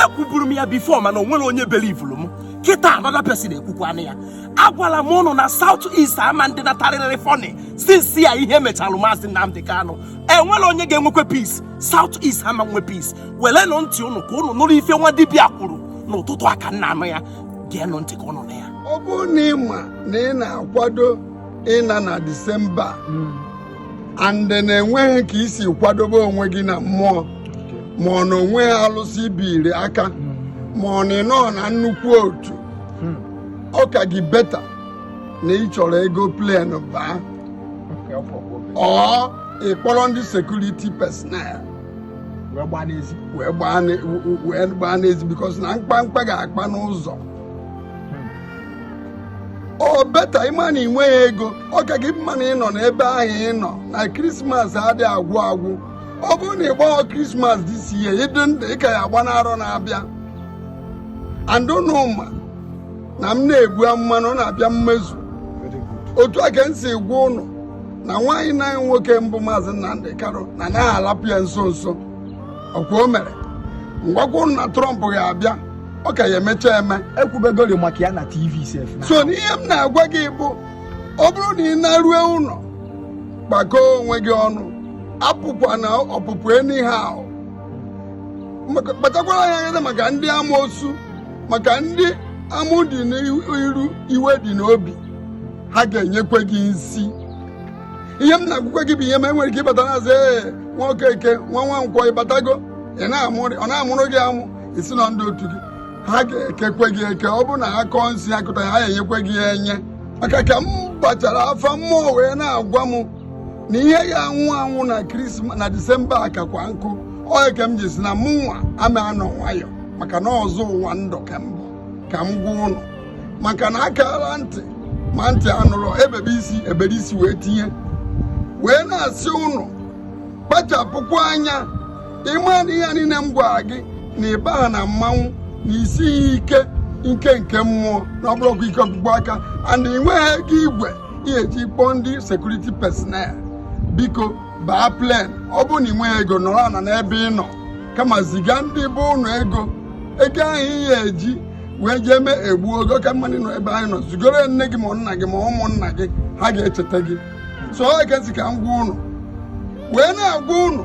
ekwuburu m ya before mana o nwerọ onye belivuru m kịta another person ekwukwana ya agwala m ụnụ na South East ama ndị natarịrị funny since ya ihe mechalụ maazị Nnamdi Kanu enwerọ onye ga-enwekwe peace South East ama enwe peace welenụ ntị ụnụ ka ụnụ nụrụ ife nwa dibịa kwuru n'ụtụtụ a ka m na-anụ ya geenụ ntị ka ụnụ nụ ya ọ bụrụ na ị ma na ị na-akwado ịna na disemba and na enweghị ka i si kwadobe onwe gị na mmụọ ma ọ na onweghị alụsị i biri aka ma ọ na ị nọ na nnukwu otu hmm. ọ ka gị better na ị chọrọ ego plane baa or ị kpọrọ ndị security personnel wee gbaa n'ezi because na mkpamkpa ga-akpa n'ụzọ or better ị ma na ị nweghị ego ọ ka gị mma na ị nọ n'ebe ahụ ị nọ na krismas adị agwụ agwụ ọ bụrụ na ị gbaghọ krismas this year ị dị ndụ ị ka ya-agba n'arọ na-abịa and ụnụ ma na m na-egbu amụma na ọ na-abịa mmezu otu a ka m si gwa ụnụ na nwanne anyị nwoke bụ maazị Nnamdi Kanu na anaghị alapụ ya nso nso ọkwa o mere m gwakwa ụnụ na Trump ga-abịa ọ ka ya-emecha eme ekwubegori maka ya na TV sef so n'ihe m na-agwa gị bụ ọ bụrụ na ị na-arue ụnọ gbakọọ onwe gị ọnụ apụkwana ọpụpụ anyhow kpachakwara anya gị maka ndị amoosu maka ndị amụ dị n'iru iwe dị n'obi ha ga-enyekwe gị nsi ihe m na-agwakwa gị bụ ihe ma enwere ike ịbata na-asị ee nwa Okeke nwa Nwankwọ ị batago ọ na-amụrụ gị amụ ị sị na ndị otu gị ha ga-ekekwe gị eke ọ bụ na ha kọọ nsi akọta ha enyekwe gị enye maka ka m gbachara afa mmụọ wee na-agwa m na ihe ya-anwụ anwụ na krismas na disemba a kakwa nkụ ọ ya ka m ji sị na mụnwa ama anọ nwayọ maka na ọzọ ụwa ndụ ka m bụ ka m gwa ụnụ maka na akala ntị ma ntị anụrọ ebebe isi ebere isi wee tinye wee na-asị ụnụ kpachapụkwa anya ị ma na ihe niile m gwara gị na ị baha na mmanwụ na i sighị ike nke nke mmụọ na ọ bụrọkwa ike ọkpụkpụ aka and ị nweghị ego igwe ị ya-eji kpọọ ndị security personnel biko baa plane ọ bụrụ na ị nweghị ego nọrọ ana n'ebe ị nọ kama ziga ndị be ụnụ ego ego ahụ ị ya-eji wee jee mee egbu ọ ga-aka mma ị nọ ebe ahụ ị nọ zigoro nne gị ma nna gị ma ụmụnna gị ha ga-echeta gị so ọ ka m sị ka m gwa ụnụ wee na-agwa ụnụ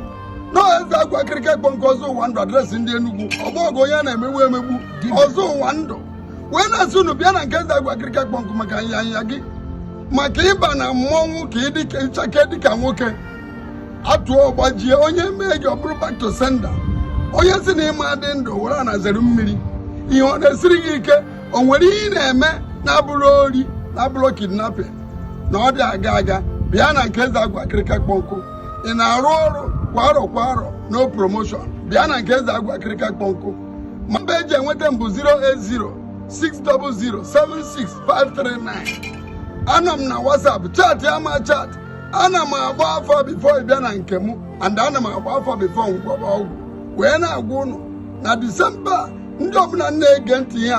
na eze agwa akịrịka kpọ nkụ ọzọ ụwa ndụ address ndị Enugu ọgbọ ọgụ onye a na-emegbu emegbu ọzọ ụwa ndụ wee na-asị ụnụ bịa na nke eze agwa akịrịka kpọ nkụ maka anyanya gị maka ịba na mmọnwụ ka ị chake dịka nwoke atụọ ọ gbajie onye mee gị ọ bụrụ back to sender onye si na ị ma adị ndụ were ana zere mmiri ihe ọ na-esiri gị ike o nwere ihe ị na-eme na-abụrọ ori na-abụrọ kidnapping na ọ dị aga aga bịa na nke eze agwụ akịrịka kpọ nkụ ị na-arụ ọrụ kwa arọ kwa arọ no promotion bịa na nke eze agwụ akịrịka kpọ nkụ nọmba eji enweta m bụ 08060076539 anọ m na whatsapp chatịa m achat ana m agba afa bifo ị bịa na nke m and ana m agba afa bifo m gwọba ọgwụ wee na-agwa ụnụ na disemba ndị ọbụla na-ege ntị ya